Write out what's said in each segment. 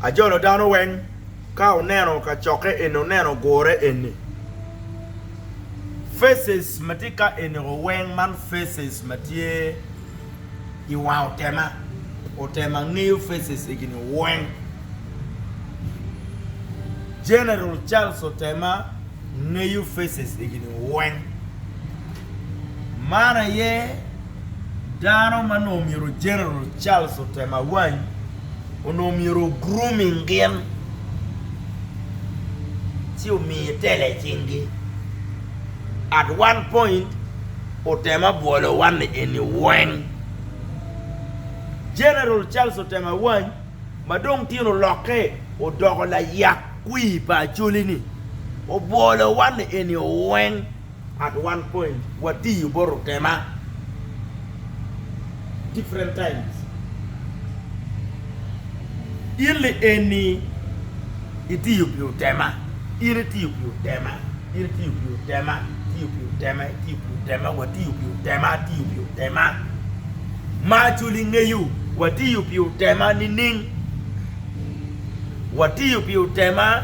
Ajolo dano weng ka oneno kacokke eni oneno gure eni faces matye ka eni o weng man faces matye I wang otema otema ngeyo faces egini weng general Charles otema ngeyo faces egini weng man aye Dano ma onongo myero General Charles otem awany onongo myero o grooming gin ci omi tela i cinggi. At one point otem abwolo wanni eni weng. General Charles otem awany ma dong tin olokke odoko layak kwir pa Acholi ni obwolo wanni eni weng. Part one point watiyo boto tema different times in li eni itiyo pi otema in itiyo pi otema in itiyo pi otema itiyo pi otema itiyo pi otema watiyo pi otema atiyo pi otema ma culi ngeyo watiyo pi otema nining watiyo pi otema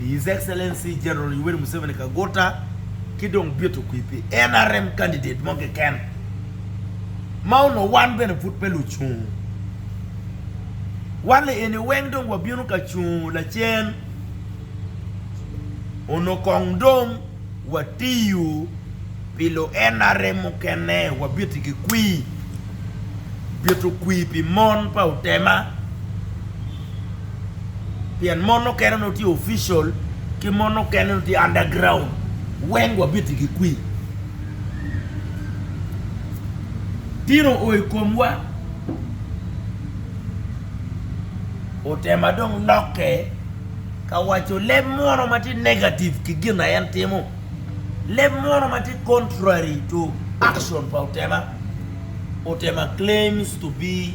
His Excellency General Yoweri Museveni Kaguta ki dong bito kwir pi nrm candidate mo keken ma onongo wan bene pud pe lucung. Wan lieni weng dong wabino ka cungo lacen, onongo kong dong watiyo pi lu nrm mukene, wabiti ki kwir, bito kwir pi mon pa Utema. pien mon okene nongo tye official ki mon okene nongo tye under ground weng wabiti gi kwi tino oo i komwa otema dong lokke ka waco leb mono ma tye negative ki gin na en timo leb mono ma tye contrary to action pa otema otema claims to be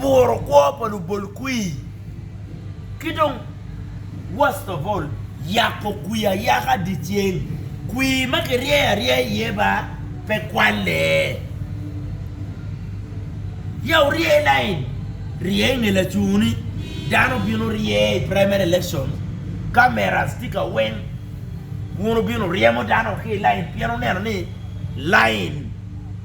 buro kwo pa lubol kwir ki dong worst of all yako kwir ayaka dyeceng kwir ma kiryeyo aryeya iye ba pe kwalle ya wurye i lain rye i nge lacungo ni dano bino rye i primary election cameras tye ka weng wun wubino ryemo dano wa ki i lain pien wuneno ni lain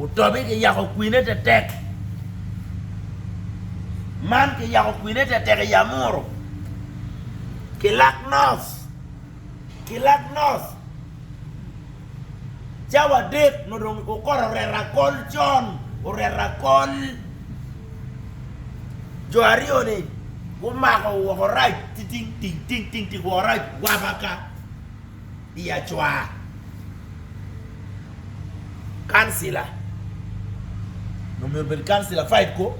Otobi ki yako kwine tetek. Man ki yako kwine tetek i Amuru, Kilak North, Kilak North, cawa adek nyo dong okoto oreto akol con, oreto akol. Jo aryo-ni gumako woko rac titing ting ting ting woko rac wabaka. i acwar. Kancila nongo myero obed kancila five ko.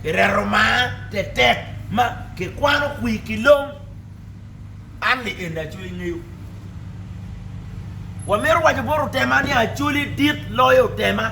Ireto mar tetek ma kikwano kwir ki long. An ni eni Acholi ngeyo. Wamito waco bot Otema ni Acholi dit loyo Otema.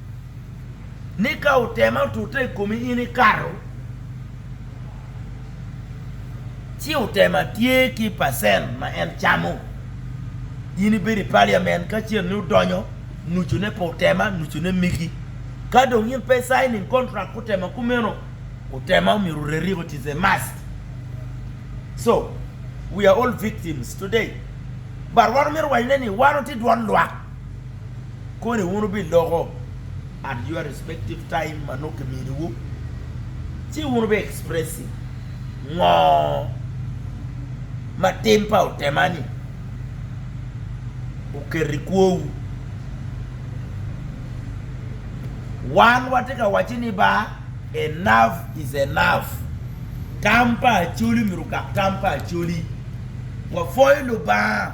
ni ka otema otute i komi in ikato, ci otema tye ki pacent ma en camo, in ibedo i paliamen ka cen ni odonyo nucune pa otema nucune migi. Ka dong in pe icaining kontrak kutema kumeno, otema omyero oreriko it is a must. Co we are all victims today but wan omyero owacone ni wan watye dwan lwak. koni wun wubiloko at your respective time ma nongo kiminiwu, ci wun wubi expressi ngo ma tim pa otemani oketo i kwowu. Wan watye ka wacci ni ba enough is enough, tam pa Acholi myero ogak tam pa Acholi. Wapwoyo Lubanga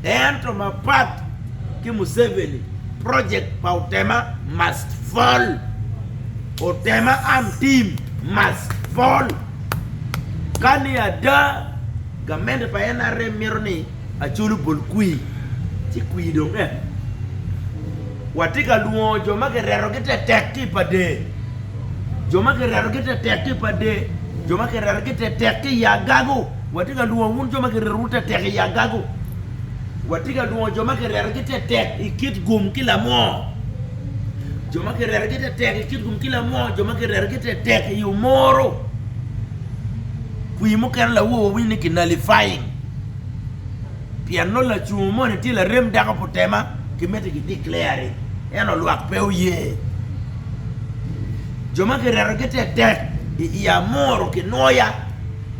Ento mapat ki Museveni, project pa Otema must fall! Otema arm team must fall! Ka ni ada, gamente pa nrm mito ni Acholi obol kwir, ci kwir dong en. Watye ka lwongo jo ma kiretogi tetek ki i Pader, jo ma kiretogi tetek ki i Pader, jo ma kiretogi tetek ki i Agago. Watye ka lwongo wun jo ma kirerowu tetek i agago. Watye ka lwongo jo ma kirerogi tetek i kit gum ki lamoo. Jo ma kirerogi tetek i kit gum ki lamoo, jo ma kirerogi tetek i omoro. Pii mukene lawo wawinyo ni ki nullifying. Pien nongo lacungo moni tye larem dako pu tema ki miti ki declare-ri, ento lwak pe oye. Jo ma kirerogi tetek i amoro ki noya.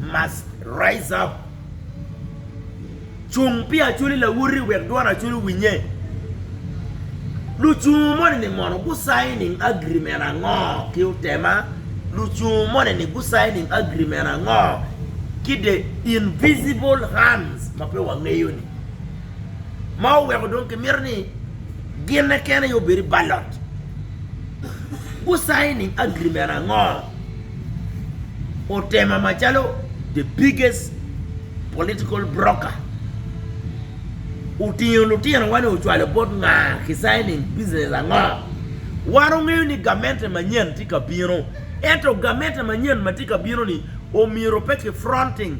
Must Rise Up, Cung pi Acholi Lawoti Wek Dwon Acholi Owinye, Lucungu moni ni mono gu signing agreement ango ki Otema? Lucungu moni ni gu signing agreement ango ki the invisible hands ma pe wangeyo ni? Ma oweko dong ki mito ni ginne kene aye obedi ballot. Gu signing agreement ango otema macalo the biggest political broker otingo lutino wa ni ocwalo bot nga ki signing business ango wan ongeyo ni gamente manyen tye ka bino ento gamente manyen matye ka bino ni omyero pe ki fronting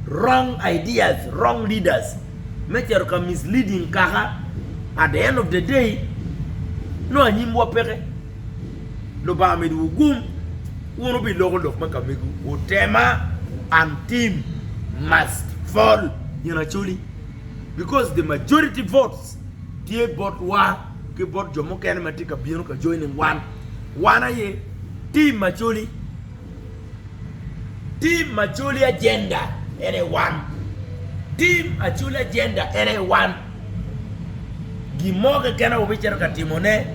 wrong ideas wrong leaders me cito ka misleading kaka at the end of the day nongo anyim wa peke. Lubanga midowu gum, wun wubiloko lok me ka mego, wutema, and team must fall in actually because the majority votes tye bot wa ki bot jo mukene matye ka bino ka joining wan, wan aye team actually. Tim Acholi Agenda en aye wan. Tim Acholi Agenda en aye wan. Gin mo keken aye wubicito ka timone.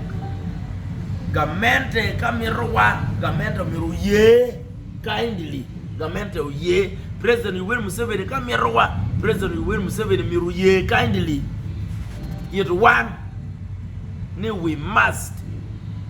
Gamente ka mitowa, gamente omyero oye kindly, gamente oye. President Yoweri Museveni ka mitowa, President Yoweri Museveni myero oye kindly. It wan ni we must.